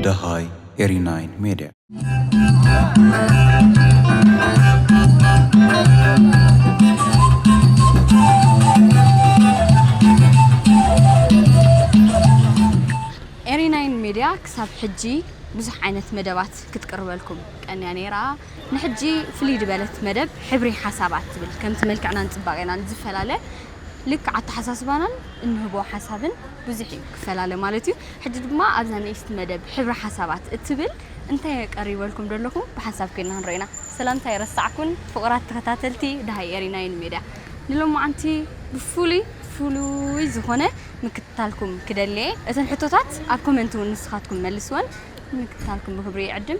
ደሃይ ኤሪናይን ሜድያ ኤሪናይን ሜድያ ክሳብ ሕጂ ብዙሕ ዓይነት መደባት ክትቅርበልኩም ቀንያ ነይራ። ንሕጂ ፍልይ ድበለት መደብ ሕብሪ ሓሳባት ትብል ከምቲ መልክዕናን ጽባቄናን ዝፈላለ ልክዕ ኣተሓሳስባናን እንህቦ ሓሳብን ብዙሕ እዩ ክፈላለ ማለት እዩ ሕጂ ድማ ኣብዛ ንእስቲ መደብ ሕብሪ ሓሳባት እትብል እንታይ ቀሪበልኩም ደለኹ ብሓንሳብ ኮይንና ክንረኢና ሰላምታ ኣይረሳዕኩን ፍቁራት ተኸታተልቲ ደሃይ ኤሪና ዩኒ ሜድያ ንሎማዓንቲ ብፍሉይ ፍሉይ ዝኾነ ምክትታልኩም ክደሊ እየ እተን ሕቶታት ኣብ ኮመንት ውን ንስኻትኩም መልስወን ንምክትታልኩም ብክብሪ ይዕድም።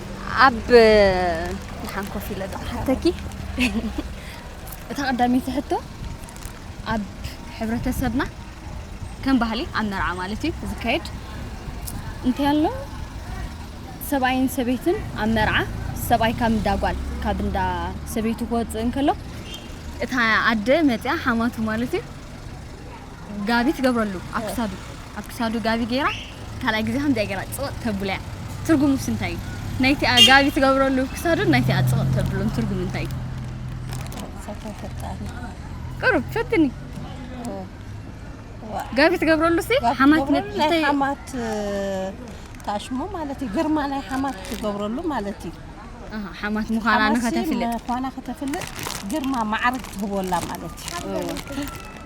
ኣብ ድሓን ኮፍ ኢለ ዝሓተኪ እታ ቀዳመይቲ ሕቶ ኣብ ሕብረተሰብና ከም ባህሊ ኣብ መርዓ ማለት እዩ ዝካየድ እንታይ ኣሎ ሰብኣይን ሰበይትን ኣብ መርዓ ሰብኣይ ካብ እንዳ ጓል ካብ እንዳ ሰበይቱ ክወፅእ እንከሎ እታ ኣደ መፅያ ሓማቱ ማለት እዩ ጋቢ ትገብረሉ ኣብ ክሳዱ ኣብ ክሳዱ ጋቢ ጌራ ካልኣይ ግዜ ከምዚኣ ጌራ ጽቕጥ ተብሎ'ያ ትርጉሙስ እንታይ እዩ? ናይቲኣ ጋቢ ትገብረሉ ክሳዱን ናይቲኣ ጽቕጥ ተብሎን ትርጉም እንታይ እዩ? ሰብካ ፈጣሪ ቅሩብ ፈትኒ ጋቢ ትገብረሉ ሲ ሓማት ናይ ንእሽተይ ሓማት እ፣ ታሽሞ ማለት እዩ ግርማ ናይ ሓማት ትገብረሉ ማለት እዩ ኣሃ፣ ሓማት ምዃና ሓማት ሲ ንኸተፍልጥ ምዃና ከተፍልጥ ግርማ ማዕርግ ትህበላ ማለት እዩ እወ።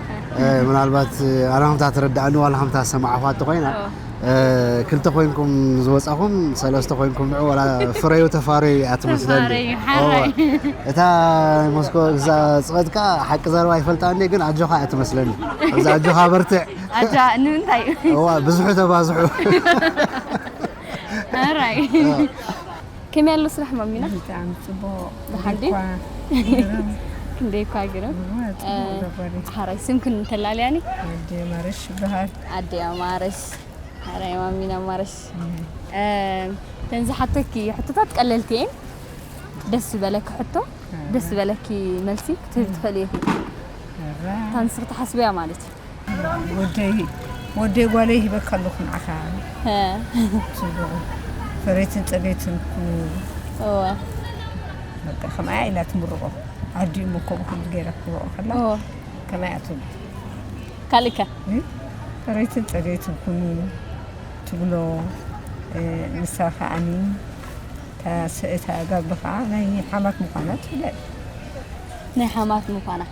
ምናልባት ኣነ ከምታ ተረዳእኒ ዋላ ከምታ ዝሰማዕኹዋ እንተኾይና ክልተ ኮይንኩም ዝወጻኹም ሰለስተ ኮይንኩም ንዑ ዋላ ፍረዩ ተፋረዩ እያ ትመስለኒ እታ ሞስኮ እዛ ጽቐት ከኣ ሓቂ ዘረባ ይፈልጣኒ ግን ኣጆኻ እያ ትመስለኒ እዛ ኣጆኻ በርትዕ ንምንታይ ብዙሑ ተባዝሑ ከመይ ኣሎ ስራሕ ማሚና? ብጣዕሚ ጽቡቕ ደሓን ድዩ? ክንደይ እኳ ግርም ሓራይ ስምክን እንተላለያኒ ኣዴ ማረሽ ይበሃል ኣዴ ኣማረሽ ሓራይ ማሚና ማረሽ ተን ዝሓተኪ ሕቶታት ቀለልቲ እየን ደስ ዝበለኪ ሕቶ ደስ ዝበለኪ መልሲ ክትህቢ ትኽእሊ ኢኺ እታ ንስኺ ትሓስብያ ማለት እዩ ወደይ ወደይ ጓለይ ሂበካ ኣለኹ ንዓኻ ጽቡቕ ፈረይትን ጸገይትን ኩን በቃ ከምኣያ ኢላ ትምርቖ ዓዲኡ መኮቡ ክሉ ገይራ ክትምርቖ ከላ ከምኣያ ትብሎ ካልእከ ፈረይትን ጸገይትን ኩኑ ትብሎ ንሳ ከዓኒ እታ ጋብሪ ከዓ ናይ ሓማት ምዃና ትፍለጥ ናይ ሓማት ምዃና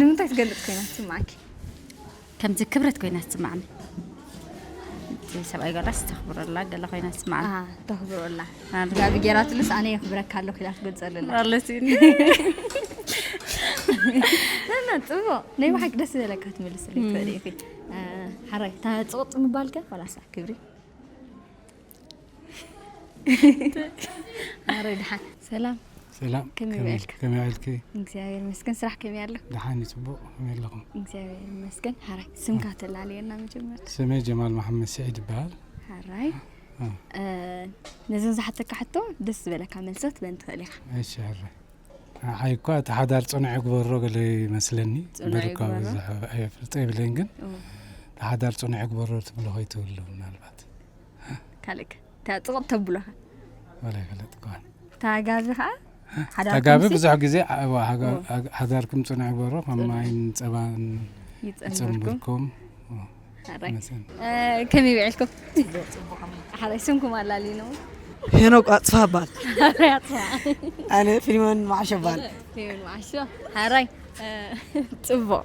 ንምንታይ ትገልፅ ኮይና ትስምዓኪ? ከምዚ ክብረት ኮይና ትስምዓኒ ሰብኣይ ጋላስ ተኽብረላ ገለ ኮይና ትስምዓኒ ተኽብረላ ጋቢ ጌራትሉስ ኣነ የኽብረካ ኣለኹ ኢላ ትገልፀለላ ኣለሲ እና ፅቡቕ ናይ ብሓቂ ደስ ዘለካ ትምልስለይ ትኽእሊ ኢኺ ሓራይ እታ ፅቕፅ ምባልከ ዋላሳ ክብሪ ማረይ ድሓን ሰላም ሰላም ከመይ በልካ ከመይ ኣልኪ እግዚኣብሔር ይመስገን ስራሕ ከመይ ኣሎ ድሓን ጽቡቅ ከመይ ኣለኹም እግዚኣብሔር ይመስገን ሃራይ ስምካ ተላለየና መጀመርታ ስመይ ጀማል መሓመድ ስዒድ ይበሃል ሃራይ ነዘን ዝሓተካ ሕቶ ደስ ዝበለካ መልሰት በን ትኽእል ኢኻ እሺ ሃራይ ሓይ እኳ እቲ ሓዳር ፅኑዕ ይግበሮ ገለ ይመስለኒ በርኳ ብዙሕ ኣይፈልጦ ይብለኝ ግን እቲ ሓዳር ፅኑዕ ይግበሮ ትብሎ ከይትህሉ ምናልባት ካልክ እታ ጥቕጥ ተብሎ ወላ ይፈለጥ ከዋን እታ ጋቢ ከዓ እታ ጋቢ ብዙሕ ግዜ ሃዳርኩም ፅኑዕ ይበሮ ከም ማይን ፀባን ይፀምብርኩም ከመይ ብዕልኩም ሓላይ ስምኩም ኣላሊኖ ሄኖክ ኣፅፋ ባል ኣነ ፊልሞን ማዓሾ ባል ፊልሞን ማዓሾ ሓራይ ፅቡቕ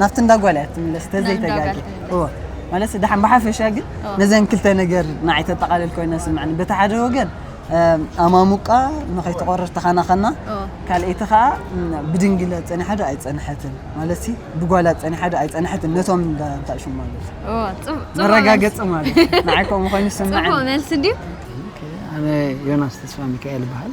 ናብቲ እንዳ ጓል እያ ትምለስ ተዘይተጋጊ እወ ማለት ደሓን ብሓፈሻ ግን ነዘን ክልተ ነገር ንዓይ ተጠቓልል ኮይነ ስምዕኒ በቲ ሓደ ወገን ኣማሙቃ ንኸይትቆርር ተኸናኸና ካልኣይቲ ከዓ ብድንግለ ፀኒሓ ዶ ኣይፀንሐትን ማለት ብጓላ ፀኒሓ ዶ ኣይፀንሐትን ነቶም እንዳንታሹ ማለት መረጋገፂ ማለት ንዓይ ከምኡ ኮይኑ ስምዕኒ መልሲ ድዩ ኣነ ዮናስ ተስፋ ሚካኤል ይበሃል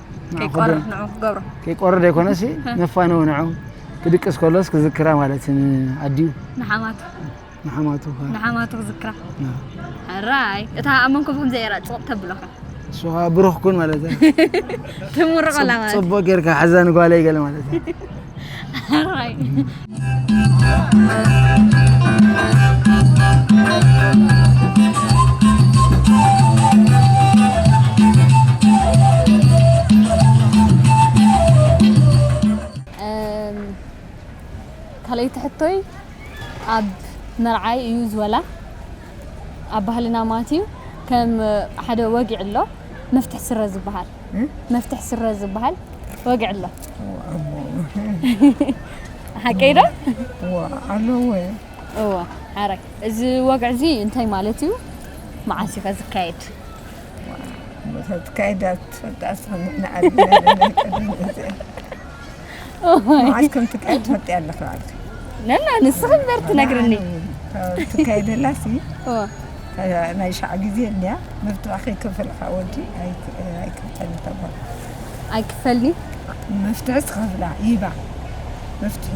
ከይቆርር ንዑ ክገብሮ ከይቆርር ዘይኮነሲ ነፋነው ንዑ ክድቅስ ከሎስ ክዝክራ ማለት ኣዲኡ ንሓማቱ ንሓማቱ ንሓማቱ ክዝክራ ሕራይ እታ ኣብ መንኮብ ከም ዘየራ ፅቕጥ ተብሎካ እሱ ብሩኽ ኩን ማለት እዩ ትምርቐላ ማለት ፅቡቅ ጌርካ ሓዛ ንጓለይ ገለ ማለት እዩ ኣራይ ካልኣይቲ ሕቶይ ኣብ መርዓይ እዩ ዝወላ ኣብ ባህልና ማለት እዩ ከም ሓደ ወጊዕ ኣሎ መፍትሕ ስረ ዝበሃል መፍትሕ ስረ ዝበሃል ወግዒ ኣሎ ሓቀይ ዶ ኣሎ ወይ እወ ሓራይ እዚ ወግዒ እዚ እንታይ ማለት እዩ መዓስ እዩ ዝካየድ ተትካይዳ ትፈልጣ ስኽንሕና ዓድና መዓስ ከም ትካየድ ትፈልጢ ኣለኺ በዓልኪ ነና ንስኺ እምበር ትነግርኒ ትካየደላ ሲ ናይ ሻዕ ግዜ እንያ መብትዋ ከይከፈልካ ወዲ ኣይክፈል ተባል ኣይክፈልኒ መፍትሒ ትኸፍላ ይባ መፍትሒ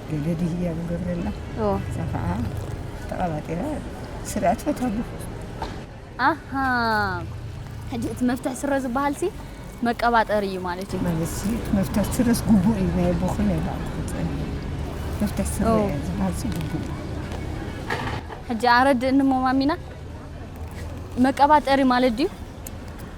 ገደዲ ህያቡ ገብረላ እዛ ከዓ ተቐባጢራ ስረ ኣትፈታሉ ኣሃ ሕጂ እቲ መፍትሕ ስረ ዝበሃል ሲ መቀባጠሪ እዩ ማለት እዩ ማለት ሲ መፍትሕ ስረስ ግቡእ እዩ ናይ ኣቦኹ ናይ ባዕሉ ክፀን መፍትሕ ስረ ኦ። ዝበሃል ሲ ግቡእ እዩ ሕጂ ኣረድእኒ እሞ ማሚና መቀባጠሪ ማለት ድዩ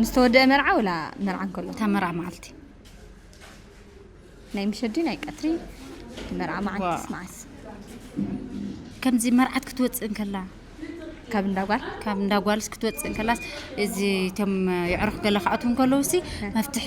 ምስ ተወደአ መርዓ ወላ መርዓ እንከሎ እታ መርዓ መዓልቲ ናይ ምሸዲ ናይ ቀትሪ መርዓ መዓልቲ ስማዓስ ከምዚ መርዓት ክትወፅእ እንከላ ካብ እንዳጓል ካብ እንዳጓልስ ክትወፅእ እንከላስ እዚ እቶም የዕሩኽ ገለ ክኣትዉ እንከለውሲ መፍትሒ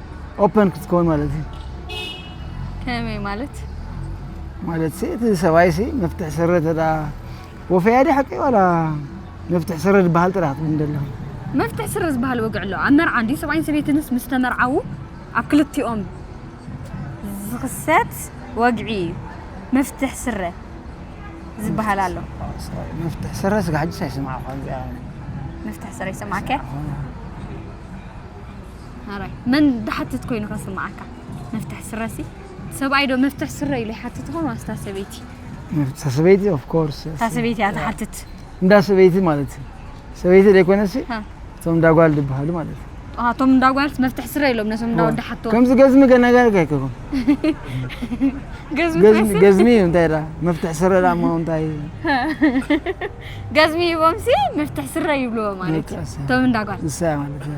ኦፐን ክትከውን ማለት እዩ ከመይ ማለት ማለት ሲ እቲ ሰብኣይ ሲ መፍትሕ ስረ ተዳ ወፈያ ዲ ሓቂ ዋላ መፍትሕ ስረ ዝበሃል ጥራሕ ክትብል ደለኻ መፍትሕ ስረ ዝበሃል ወግዕ ኣሎ ኣብ መርዓ እንዲ ሰብኣይን ሰበይትንስ ምስ ተመርዓዉ ኣብ ክልቲኦም ዝኽሰት ወግዒ እዩ መፍትሕ ስረ ዝበሃል ኣሎ መፍትሕ ስረ ስጋ ሕጅስ ኣይሰማዕኳ መፍትሕ ስረ ይሰማዕከ ሐራይ መን ድሓትት ኮይኑ ከስምዓካ መፍትሕ ስረሲ ሰብኣይ ዶ መፍትሕ ስረ ኢሉ ይሓትት ይኾን ዋስ እታ ሰበይቲ እታ ሰበይቲ ኦፍ ኮርስ እታ ሰበይቲ እያ ትሓትት እንዳ ሰበይቲ ማለት እዩ ሰበይቲ ዘይኮነሲ እቶም እንዳ ጓል ዝበሃሉ ማለት እዩ እቶም እንዳ ጓልስ መፍትሕ ስረ ኢሎም ነቶም እንዳ ወዲ ሓቶ ከምዚ ገዝሚ ገነጋር ጋይከኹም ገዝሚ ገዝሚ እዩ እንታይ ዳ መፍትሕ ስረ ዳ እሞ እንታይ ገዝሚ ይቦምሲ መፍትሕ ስረ ይብልዎ ማለት እዩ እቶም እንዳ ጓል ንሳ ማለት እዩ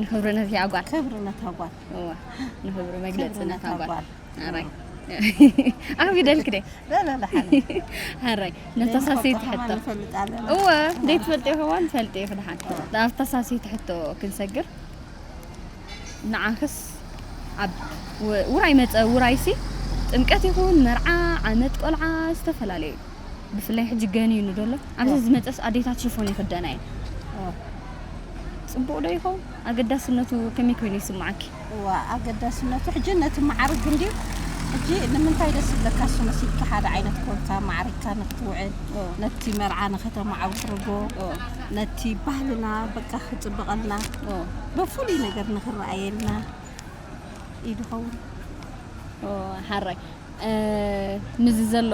ንክብሪ ነዚኣ ጓል ክብሪ ነታ ጓል እዋ ንክብሪ መግለፂ ነታ ጓል ኣራይ ኣብ ይደልክ ደ በለለ ሓረይ ነተሳሰይ ትሕቶ እወ ዘይትፈልጥ ይኸዋን ፈልጥ ይኽ ድሓን ናብ ተሳሰይ ትሕቶ ክንሰግር ንዓኽስ ኣብ ውራይ መፀ ውራይሲ ጥምቀት ይኹን መርዓ ዓመት ቆልዓ ዝተፈላለዩ ብፍላይ ሕጂ ገኒኑ ዶሎ ኣብዚ ዝመፀስ ኣዴታት ሽፎን ይኽደና እየን ፅቡቅ ዶ ይኸውን ኣገዳስነቱ ከመይ ኮይኑ ይስማዓኪ እዋ ኣገዳስነቱ ሕጂ ነቲ መዓርግ እንዲ ሕጂ ንምንታይ ደስ ዝብለካ እሱ መሲልካ ሓደ ዓይነት ኮንካ ማዕሪግካ ንክትውዕል ነቲ መርዓ ንከተማዓውርጎ ነቲ ባህልና በቃ ክፅብቐልና በፍሉይ ነገር ንክረኣየልና እዩ ድኸውን ሓራይ ምስዚ ዘሎ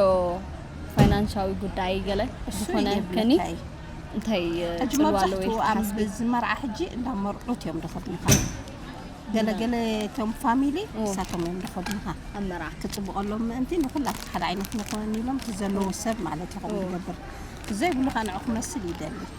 ፋይናንሻዊ ጉዳይ ገለ ዝኾነ ከኒ እንታይ ፅልዋ ኣለዎ ኢልኪ ትሓስቢ? ኣብዚ መርዓ ሕጂ እንዳ መርዑት እዮም ዝኸድሙኻ ገለገለ እቶም ፋሚሊ ንሳቶም እዮም ዝኸድሙኻ ኣብ መርዓ ክፅብቐሎም ምእንቲ ንኹላትካ ሓደ ዓይነት ንኹን ኢሎም እቲ ዘለዎ ሰብ ማለት ኢኹም ዝገብር ዘይብሉ ከዓ ንዑ ክመስል ይደሊ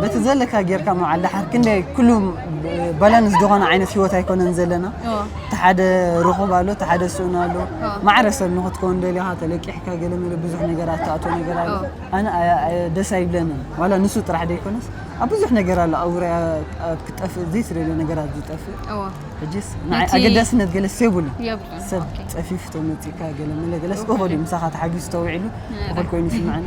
በቲ ዘለካ ጌርካ ምውዓል ድሓር ክንደይ ኩሉ ባላንስ ዝኾነ ዓይነት ሂወት ኣይኮነን ዘለና እቲ ሓደ ርኹብ ኣሎ እቲ ሓደ ስእኑ ኣሎ ማዕረ ሰብ ንክትከውን ደሊኻ ተለቂሕካ ገለ መለ ብዙሕ ነገራት ትኣቶ ነገር ኣሎ ኣነ ደስ ኣይብለንን ዋላ ንሱ ጥራሕ ዘይኮነስ ኣብ ብዙሕ ነገር ኣሎ ኣውራያ ኣብ ክጠፍእ ዘይትደልዮ ነገራት ዝጠፍእ ሕጂስ ኣገዳስነት ገለስ የብሉ ሰብ ፀፊፍ ተመፂካ ገለ መለ ገለስ እኹል እዩ ምሳኻ ተሓጊዙ ተውዒሉ እኹል ኮይኑ ይስምዐኒ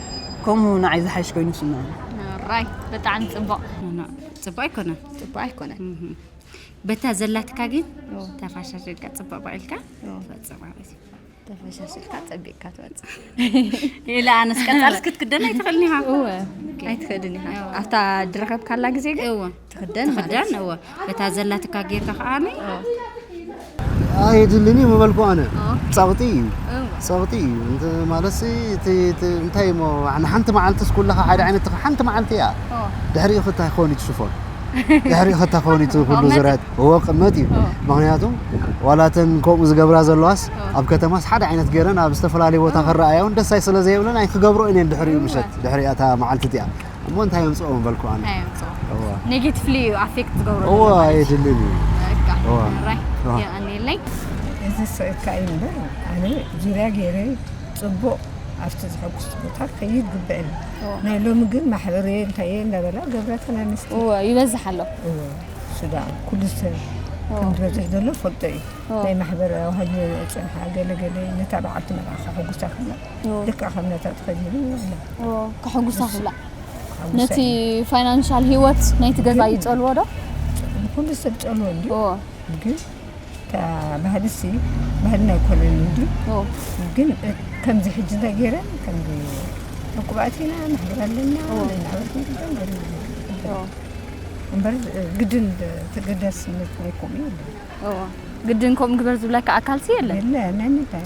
ከምኡ ንዓይ ዝሓይሽ ኮይኑ ይስምዐኒ። ራይ ብጣዕሚ ጽቡቅ ጽቡቅ ኣይኮነን ጽቡቅ ኣይኮነን በታ ዘላትካ ግን ተፋሻሽልካ ጽቡቅ በቂልካ ትወጽእ ማለት እዩ ተፈሻሽልካ ጸቢቅካ ትወጽእ ኢላ ኣነስ ቀጻልስ ክትክደን ኣይትኽእልን ኢኻ እወ ኣይትኽእልን ኢኻ ኣብታ ድረኸብካላ ግዜ ግን ትኽደን ትኽደን እወ በታ ዘላትካ ጌርካ ከዓ ኣይድልን እዩ ምበልኩ ኣነ ፀቕጢ እዩ ፀቕጢ እዩ ማለትሲ እንታይ እሞ ንሓንቲ መዓልትስ ኩልኻ ሓደ ዓይነት ሓንቲ መዓልቲ እያ ድሕሪኡ ክታይ ክኸውን እዩ ትሽፎን ድሕሪኡ ክታይ ክኸውን እዩ ኩሉ ዙርያት እዎ ቅመት እዩ ምክንያቱ ዋላ እተን ከምኡ ዝገብራ ዘለዋስ ኣብ ከተማስ ሓደ ዓይነት ገይረን ኣብ ዝተፈላለየ ቦታ ክረኣያ እውን ደሳይ ስለ ዘይብለን ኣይክገብርኦን እየን ድሕሪኡ ምሸት ድሕሪ እታ መዓልቲ እቲኣ እሞ እንታይ የምጽኦ ምበልኩ ኣነ እንታይ የምጽኦ ኔጌቲቭሊ እዩ ኣፌክት ዝገብሮ እዎ ኣየድልን እዩ ራይ የቀኒየለይ እዚ ሰካ እዩ እምበር ኣነ ጅርያ ገይረ ፅቡቅ ኣብቲ ዝሐጉስ ቦታ ከይድ ግብዕን ናይ ሎሚ ግን ማሕበረ እንታየ እንዳበላ ገብረ ተናንስቲ ይበዝሕ ኣሎ ሱዳ ኩሉ ሰብ ከም ዝበዝሕ ዘሎ ፈልጦ እዩ ናይ ማሕበረ ዋሃድ ፀንሓ ገለገለ ነታ በዓልቲ መልኣኸ ሕጉሳ ክላ ልክዕ ከም ነታ ተኸዲኑ ከሕጉሳ ክብላ ነቲ ፋይናንሻል ሂወት ናይቲ ገዛ ይጸልዎ ዶ ኩሉ ሰብ ጸልዎ እንዲ ግን ባህልሲ ባህልና ኣይኮነን እንዲ ግን ከምዚ ሕጂ እንታይ ገይረን ከምዚ ዕቁባት ኢና ንሕብር ኣለና ነናበርኩ ግደን ገለ እምበር ግድን ተገዳስነት ናይ ከምኡ የለን ግድን ከምኡ ግበር ዝብለካ ኣካልሲ የለን የለ ናይ ምንታይ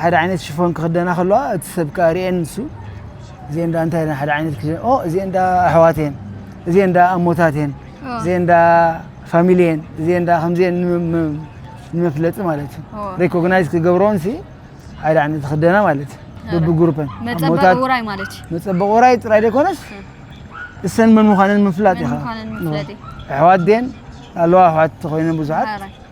ሓደ ዓይነት ሽፎን ክኽደና ከለዋ እቲ ሰብ ከዓ ርኤን ንሱ እዚኤን እንዳ እንታይ ኢለን ሓደ ዓይነት ክደን ኦ እዚኤን እንዳ ኣሕዋት እየን እዚኤን እንዳ ኣሞታት እየን እዚኤን እንዳ ፋሚሊ እየን እዚኤን እንዳ ከምዚኤን ንመፍለጢ ማለት እዩ ሬኮግናይዝ ክገብረውን ሲ ሓደ ዓይነት ክደና ማለት እዩ ብብግሩፐን መፀበቂ ውራይ ማለት እዩ መፀበቂ ውራይ ጥራይ ዘይኮነስ እሰን መን ምዃነን ምፍላጥ ኢኻ ኣሕዋት ድየን ኣለዋ ኣሕዋት ኮይነን ብዙሓት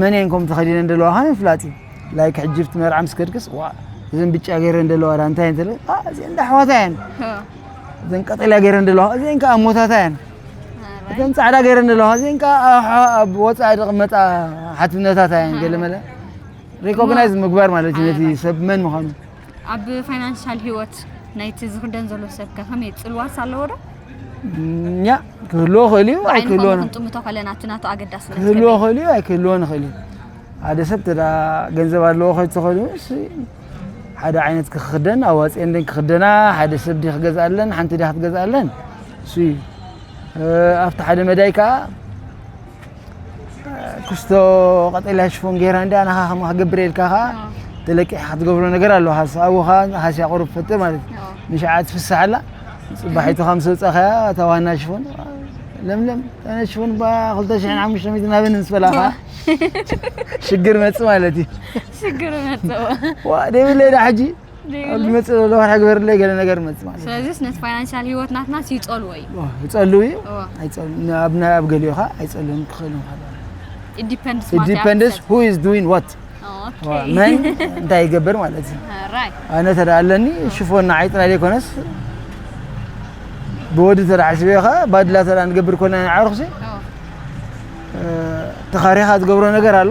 መን እየን ከምኡ ተኸዲነን ዘለዋ ከ ምፍላጥ እዩ ላይክ ሕጂ ኣብቲ መርዓ ምስ ከድክስ ዋ እዘን ብጫ ገይረን ዘለዋ ዳ እንታይ እንተ እዚአን እንዳ ኣሕዋታ እየን እዘን ቀጠልያ ገይረን ዘለዋ እዚአን ከዓ ኣሞታታ እየን እተን ፃዕዳ ገይረን ዘለዋ እዚአን ከዓ ኣብ ወፃኢ ዝቕመጣ ሓትነታታ እየን ገለ መለ ሪኮግናይዝ ምግባር ማለት እዩ ነቲ ሰብ መን ምዃኑ ኣብ ፋይናንሻል ሂወት ናይቲ ዝኽደን ዘሎ ሰብ ከ ከመይ ጽልዋስ ኣለዎ ዶ? ኛ ክህልዎ ክእል እዩ ብዓይኒ ኣይክህልዎ ኮኑ ን- ክንጥምቶ ከለና እቲ ናቱ ኣገዳስነት ክህልዎ ከመይ? ክእል እዩ ኣይክህልዎ ንኽእል እዩ ሓደ ሰብ እንተ ደኣ ገንዘብ ኣለዎ ከይተኸሉ እሺ ሓደ ዓይነት ክኽደን ኣዋፅኤን ደን ክኽደና ሓደ ሰብ ድዩ ክገዝኣለን ሓንቲ ድያ ክትገዝኣለን እሱ እዩ እ፣ ኣብቲ ሓደ መዳይ ከዓ ክስቶ ቀጠልያ ሽፎን ጌራ እንዳ ንኻ ከም ክገብር ኢልካ ከ ተለቂሕ ክትገብሮ ነገር ኣሎ ሓሳቡ ከ ሃስያ ቁሩብ ፈጥር ማለት ንሽዓት ፍሳሓላ ጽባሒቱ ከም ሰውጻኸያ እታ ዋና ሽፎን ለምለም ኣነ ሽፎን ባ 2500 ናበን ምስ በላኻ ሽግር መጽ ማለት እዩ ሽግር መጽ ዋ ደብለ ዳ ሕጂ ዝመፅእ ዘሎ ወርሒ ግበርለይ ገለ ነገር መፅእ ማለት ስለዚ ነቲ ፋይናንሻል ሂወት ናትና ይፀልዎ እዩ ይፀልው እዩ ኣብ ናይ ኣብ ገሊኡ ከዓ ኣይፀልውን ክኽእል ይኽእል ኢንዲፐንደንስ ሁ ኢዝ ዱዊን ዋት መን እንታይ ይገብር ማለት እዩ ኣነ ተዳ ኣለኒ ሽፎን ንዓይ ጥራይ ዘይኮነስ ብወዲ ተዳ ሕስበ ከዓ ባድላ ተዳ ንገብር ኮና ንዓርኩሲ ተኻሪኻ ዝገብሮ ነገር ኣሎ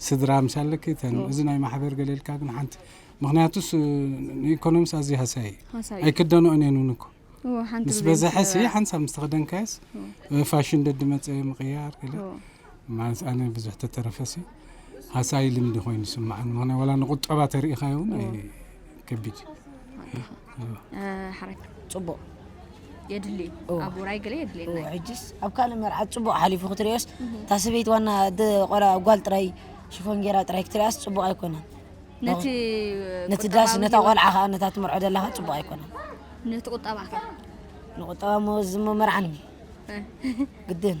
ስድራ ምስ ኣለኪ እተን እዚ ናይ ማሕበር ገለ ኢልካ ግን ሓንቲ ምክንያቱስ ንኢኮኖሚስ ኣዝዩ ሃሳይ እዩ ሃሳይ እዩ። ኣይክደንኦን እየን እውን እኮ እዎ፣ ሓንቲ ምስ ብዘይ በዝሐ ሲ ምስገበራ። ሓንሳብ ምስ ተኸደንካየስ ፋሽን ደዲ መፀ ምቕያር ገለ እዎ። ማለት ኣነ ብዙሕ ተተረፈሲ ሃሳይ ልምዲ ኮይኑ ስምዓኒ ምክንያት ዋላ ንቁጠባ ተሪኢኻዮ እውን ኣይ- ከቢድ ሓረክ ፅቡቅ የድሊ ኣብ ውራይ ገለ የድልየና ሕጅስ ኣብ ካልእ መርዓት ፅቡቅ ሓሊፉ ክትሪኦስ እታ ሰበይቲ ዋና ቆላ ጓል ጥራይ ሽፎን ጌራ ጥራይ ክትሪኣስ ፅቡቅ ኣይኮነን ነቲ ነቲ ዳስ ነታ ቆልዓ ከዓ ነታ ትምርዖ ዘለካ ፅቡቅ ኣይኮነን ነቲ ቁጠባ ከ ንቁጠባ ሞ ዝሞ መርዓኒ ግድን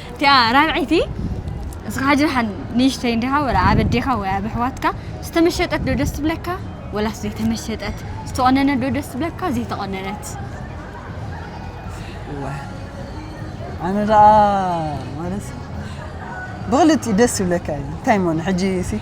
እቲኣ ራብዐይቲ እስኻ ሕጂ ደሓን ንእሽተይ እንዲኻ ወላ ኣብ ኣዴኻ ወይ ኣብ ኣሕዋትካ ዝተመሸጠት ዶ ደስ ትብለካ ወላስ ዘይተመሸጠት ዝተቖነነት ዶ ደስ ትብለካ ዘይተቖነነት እወ ኣነ ደኣ ማለት ብክልቲኡ ደስ ይብለካ እዩ እንታይ እሞ ሕጂ ሲ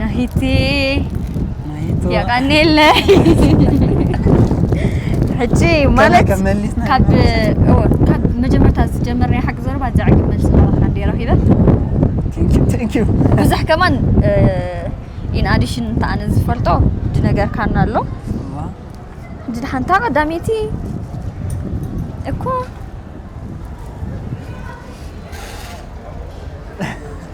ናሂቲ ናይቶ ያ ቀኒለይ ሕጂ ገለ ማለት ከም መሊስና ካብ ኢና እወ ካብ መጀመርታ ዝጀመርናዮ ሓቂ ዘረባ ዘዕግብ መልሲ ረኺብካ እንዲየ ረኺበ Thank you, thank you. ብዙሕ ከማን ኢን ኣዲሽን እንተ ኣነ ዝፈልጦ ዝነገርካና ኣሎ እዋ፣ እንጂ ሓንታ ቀዳመይቲ እኮ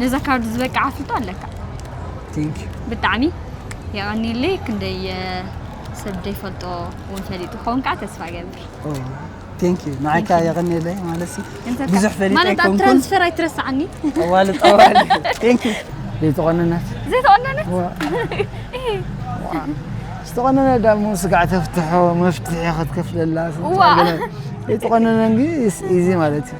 ነዛ ካርድ ዝበቅዕ ኣፍልጦ ኣለካ ቴንክ ዩ ብጣዕሚ የቐንየለይ ክንደይ ሰብ ዘይፈልጦ እውን ፈሊጡ ክኸውን ከዓ ተስፋ ገብር ቴንክ ዩ ንዓይ ከዓ የቐንየለይ ማለት ብዙሕ ፈሊጠ ማለት ኣብ ትራንስፈር ኣይትረስዓኒ ጠዋሊ ጠዋሊ ቴንክ ዩ ዘይተቖነነት ዘይተቖነነት ዝተቖነነ ዳሞ ስጋዕ ተፍትሖ መፍትሒ ክትከፍለላ ዘይተቖነነ ግን ኢዚ ማለት እዩ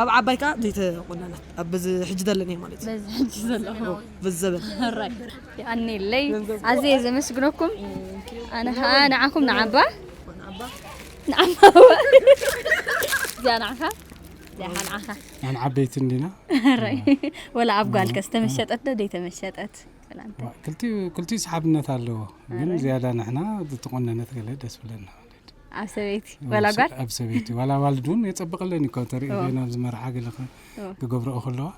ኣብ ዓባይ ከኣ ዘይተቆነነት ኣብ በዚ ሕጂ ዘለንዮ ማለት እዩ በዚ ሕጂ ዘለኹ በዚ ዘበን ሕራይ የቀኒለይ ኣዝየ ዘመስግነኩም ኣነ ከኣ ንዓኹም ንዓባ ንዓባ እዚኣ ንዓኻ እዚኣ ንዓኻ ንሕና ዓበይቲ እንዲና ሕራይ ወላ ኣብ ጓልከ ዝተመሸጠት ዶ ዘይተመሸጠት ክልቲኡ ክልቲኡ ሰሓብነት ኣለዎ ግን ዝያዳ ንሕና ዝተቆነነት ገለ ደስ ብለና ኣብ ሰበይቲ ዋላ ጓል ኣብ ሰበይቲ ዋላ ዋልድ እውን የጸብቐለን እዩ ካብ ተርኢ ናብዚ መርዓ ገለ ክገብረኦ ከለዋ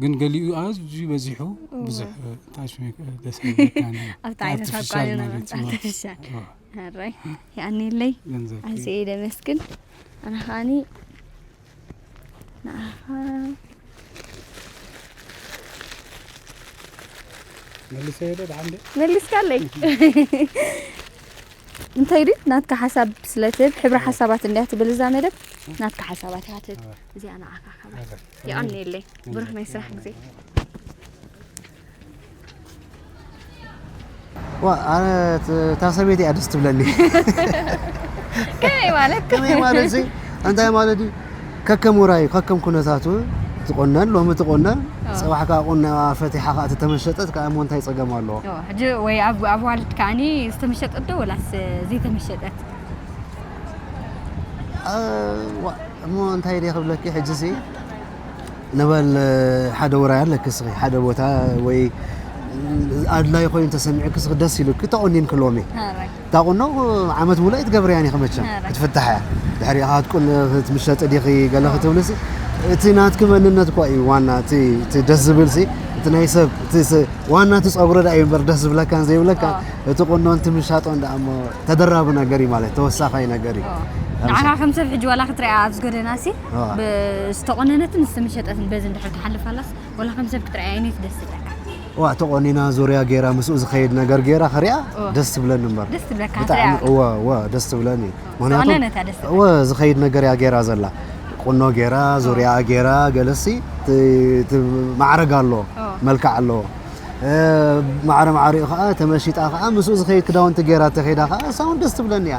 ግን ገሊኡ ኣዝዩ በዚሑ ብዙሕ ጣሽ ደስ ኣብቲ ዓይነት ኣቋሪና ኣርቲፊሻል ራይ ያኣኒለይ ኣዝየ ደመስግን ኣነ ከዓኒ ንዓኻ መሊስካለይ እንታይ ድዩ ናትካ ሓሳብ ስለ ትህብ ሕብሪ ሓሳባት እንድያ ትብል እዛ መደብ ናትካ ሓሳባት እያ ትህብ እዚኣ ንዓኻ ካብ የቐንየለይ ብሩኽ ናይ ስራሕ ግዜ ኣነ እታ ሰበይቲ እያ ደስ ትብለኒ ከመይ ማለት ከመይ ማለት ሲ እንታይ ማለት እዩ ከከም ውራዩ ከከም ኩነታቱ ትቆነን ሎሚ ትቆነን ፅባሕ ከዓ ቁና ፈቲሓ ከዓ ተተመሸጠት ከዓ እሞ እንታይ ፀገም ኣለዎ ሕጂ ወይ ኣብ ኣዋልድ ከዓኒ ዝተመሸጠት ዶ ወላስ ዘይተመሸጠት እሞ እንታይ ድየ ክብለኪ ሕጂ ሲ ንበል ሓደ ውራይ ኣለኪ እስኺ ሓደ ቦታ ወይ ኣድላይ ኮይኑ ተሰሚዑኪ እስኺ ደስ ኢሉኪ ተቖኒንኪ ሎሚ እታ ቁኖ ዓመት ሙሉእ ኣይትገብርያን ኢኺ መቸም ክትፍታሕ እያ ድሕሪ ሃትቁን ምሸጢ ዲኺ ገለ ክትብልሲ እቲ ናትኪ መንነት እኳ እዩ ዋና እቲ ደስ ዝብል ሲ እቲ ናይ ሰብ ዋና እቲ ፀጉሪ ዳ እዩ እምበር ደስ ዝብለካን ዘይብለካ እቲ ቁኖን እቲ ምሻጦን ዳኣ እሞ ተደራቢ ነገር እዩ ማለት ተወሳኻይ ነገር እዩ ንዓኻ ከም ሰብ ሕጂ ዋላ ክትሪኣ ኣብዚ ጎደና ሲ ዝተቆነነትን ዝተመሸጠትን በዚ እንድሕር ትሓልፍ ኣላስ ወላ ከም ሰብ ክትርኣያ ኣይነት ደስ ትብለካ ዋ ተቆኒና ዙርያ ገይራ ምስኡ ዝኸይድ ነገር ገይራ ክሪኣ ደስ ትብለኒ እምበር ደስ ትብለካ ብጣዕሚ እወ እወ ደስ ትብለኒ ምክንያቱ እወ ዝኸይድ ነገር እያ ገይራ ዘላ ቁኖ ገይራ ዙርያ ገይራ ገለሲ ማዕረግ ኣሎ መልክዕ ኣለዎ ማዕረ ማዕሪኡ ከዓ ተመሺጣ ከዓ ምስኡ ዝኸይድ ክዳውንቲ ገይራ ተኸይዳ ከዓ እሳ እውን ደስ ትብለኒ እያ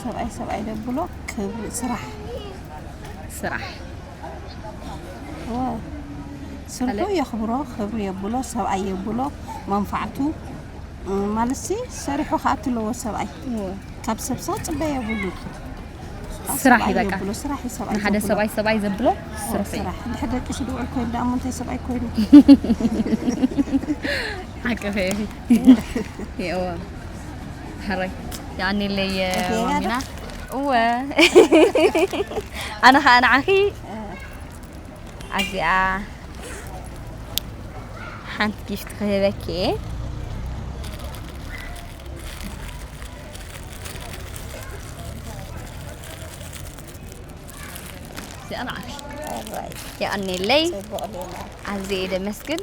ሰብኣይ ሰብኣይ ደብሎ ክብሪ ስራሕ ስራሕ ስርሑ የኽብሮ ክብሪ የብሎ ሰብኣይ የብሎ መንፋዕቱ ማለት ሲ ሰሪሑ ከዓ ትለዎ ሰብኣይ ካብ ሰብ ሰው ፅበ የብሉ ስራሕ እዩ በቃ ንሓደ ሰብኣይ ሰብኣይ ዘብሎ ስራሕ ድሕሪ ደቂ ስድውዕል ኮይኑ ደኣ ምንታይ ሰብኣይ ኮይኑ ሓቂ ፈ ይእወ ሕራይ የቀኔለይ ማሚና እወ ኣነ ከዓ ንዓኺ ኣዚኣ ሓንቲ ጊፍቲ ክህበኪ እየ እዚኣ ንዓኺ የቀኔለይ ኣዝየ እየ ደመስግን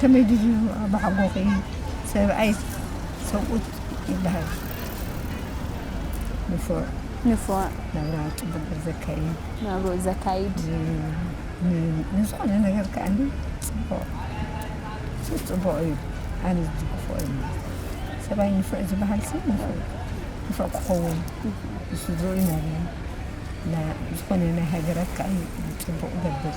ከመይ ድዩ ኣባሓጎኺ ሰብኣይ ሰብኡት ይበሃል ንፉዕ ንፉዕ ናብራ ፅቡቅ ዘካይድ ናብርኡ ዘካይድ ንዝኾነ ነገር ከዓ ፅቡቅ ፅቡቅ እዩ ኣነ ዝድግፎ እዩ ሰብኣይ ንፉዕ ዝበሃል ሲ ንፉዕ ክኸውን ንሱ ዝርኢ ናብላ ዝኾነ ናይ ሃገራት ከዓ ፅቡቅ ገብር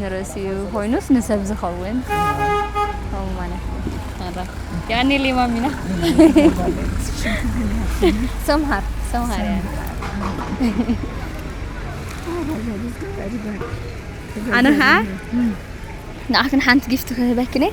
ንርእሲ ኮይኑስ ንሰብ ዝኸውን ከምኡ ማለት እዩ። ያኔ ሌማ ሚና ሰምሃር ሰምሃር ያኔ ኣነ ከዓ ንዓክን ሓንቲ ጊፍቲ ክህበክን እየ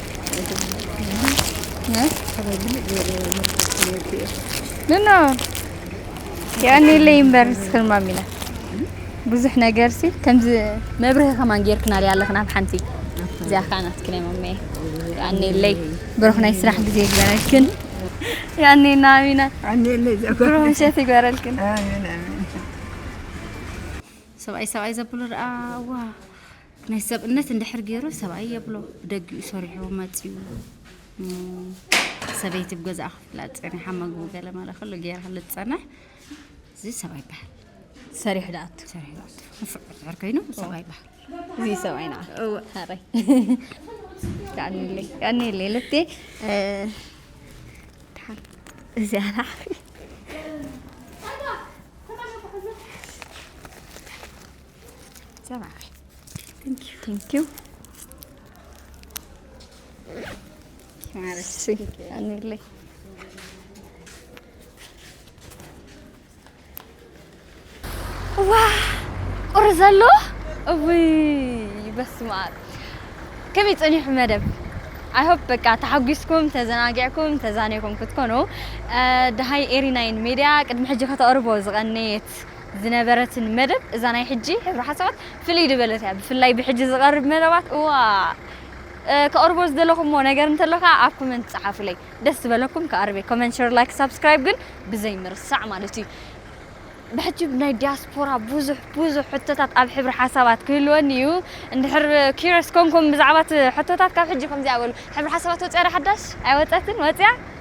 ንኖ ያኔ ለይምበር ስክርማ ሚና ብዙሕ ነገር ሲ ከምዚ መብርሂ ከማን ጌርክና ሪያ ኣለኽና ኣብ ሓንቲ እዚኣ ከዓ ናትክን እየ መመየ ያኔ ለይ ብሩኽ ናይ ስራሕ ግዜ ይግበረልክን ያኔ ናሚና ብሩኽ ምሸት ይግበረልክን ሰብኣይ ሰብኣይ ዘብሉ ረኣ ዋ ናይ ሰብእነት እንድሕር ገይሩ ሰብኣይ የብሎ ብደጊኡ ሰሪሑ መፂኡ ሰበይቲ ብገዛእ ክፍላ ፀኒሓ መግቡ ገለ መለ ክሉ ገይራ ክሉ ትፀንሕ እዚ ሰብኣይ ይበሃል ሰሪሑ ዳኣቱ ሰሪሑ ዳኣቱ ንፉዕ ድሕር ኮይኑ ሰብኣይ ይበሃል እዚ ሰብኣይ ንዓ ሃረይ ቀኒለይ ቀኒለይ ልቴ እዚ ኣላሕ ሰማዒ ቴንኪዩ ቴንኪዩ ማለት ኣንለይ ዋ ቁሪ ዘሎ እውይ በስመ ኣብ ከመይ ፀኒሑ መደብ ኣይሆፕ በቃ ተሓጒስኩም ተዘናጊዕኩም ተዛኒኹም ክትኮኑ ደሃይ ኤሪናይን ሜድያ ቅድሚ ሕጂ ከተቕርቦ ዝቐነየት ዝነበረትን መደብ እዛ ናይ ሕጂ ሕብሪ ሓሳባት ፍልይ ድበለት እያ ብፍላይ ብሕጂ ዝቐርብ መደባት እዋእ ከቕርቦ ዝደለኹሞ ነገር እንተሎ ከኣ ኣብ ኮመንት ጸሓፉለይ ደስ ዝበለኩም ክቐርብ እየ ኮመንት ሸር ላይክ ሳብስክራይብ ግን ብዘይ ምርሳዕ ማለት እዩ ብሕጂ ናይ ዲያስፖራ ብዙሕ ብዙሕ ሕቶታት ኣብ ሕብሪ ሓሳባት ክህልወኒ እዩ እንድሕር ኪረስ ኮንኩም ብዛዕባ እቲ ሕቶታት ካብ ሕጂ ከምዚኣ በሉ ሕብሪ ሓሳባት ወጺኣ ዶ ሓዳሽ ኣይወጸትን ወጺኣ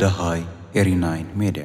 ደሃይ ኤሪናይን ሜድያ።